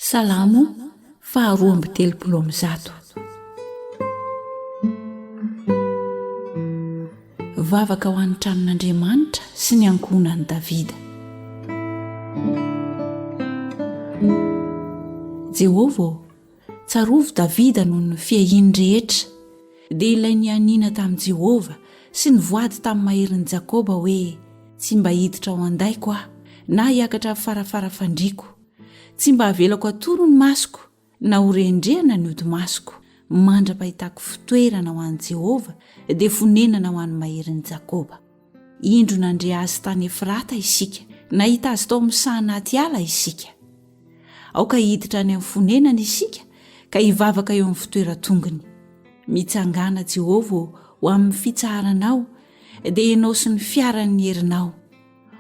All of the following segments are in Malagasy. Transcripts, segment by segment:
Salamo faha roa amby telopolo amby zato. Vavaka ho an'ny tranon'Andriamanitra sy ny ankohonan'i Davida. Jehovah ô, tsarovy Davida noho ny fiahiany rehetra, dia ilay nianiana tamin'i Jehovah sy nivoady tamin'ny maherin'i Jakoba hoe, Tsy mba hiditra ao an-daiko aho, na hiakatra amin'ny farafara fandriako. Tsy mba havelako atoro ny masoko na horendrehana ny hodi-masoko. Mandra-pahitako fitoerana ho an'i Jehovah, dia fonenana ho an'ny maherin'i Jakoba. Indro nandre azy tany Efrata isika, nahita azy tao amin'ny saha anaty ala isika. Aoka hiditra any amin'ny fonenany isika ka hivavaka eo amin'ny fitoeran-tongony. Mitsangàna Jehovah ô ho amin'ny fitsaharanao, dia ianao sy ny fiaran'ny herinao.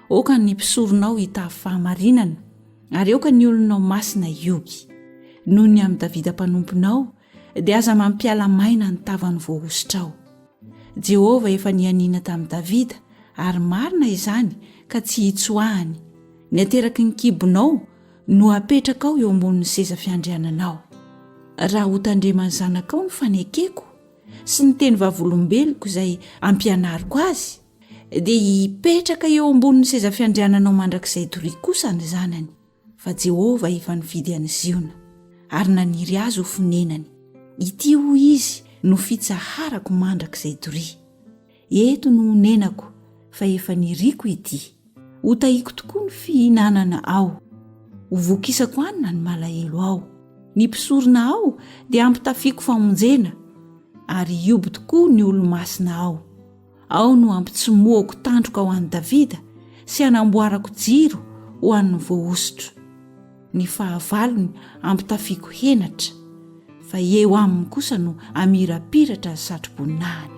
Aoka ny mpisoronao hitavy fahamarinana, ary aoka ny olonao masina hiogy. Noho ny amin'i Davida mpanomponao, dia aza mampiala maina ny tavan'ny voahosotrao. Jehovah efa nianiana tamin'i Davida, ary marina izany ka tsy hitsoahany. Ny ateraky ny kibonao no apetrakao eo ambonin'ny seza fiandriananao. Raha hotandreman'ny zanakao ny fanekeko sy ny tenivavolombeloko izay ampianariko azy, dia hipetraka eo ambonin'ny seza fiandriananao mandrakizay doria kosa ny zanany fa jehovah efa nifidy any ziona ary naniry azy ho fonenany ity ho izy no fitsaharako mandrakizay doria eto no honenako fa efa niriko ity ho tahiko tokoa ny fihinanana ao ho vokisako anina ny malahelo ao ny mpisorona ao dia ampitafiako famonjena ary hioby tokoa ny olomasina ao Ao no hampitsimohako tandroka ho an'i Davida sy hanamboarako jiro ho an'ny voahosotra. Ny fahavalony hampitafiako henatra, fa eo aminy kosa no hamirapiratra ny satroboninahiny.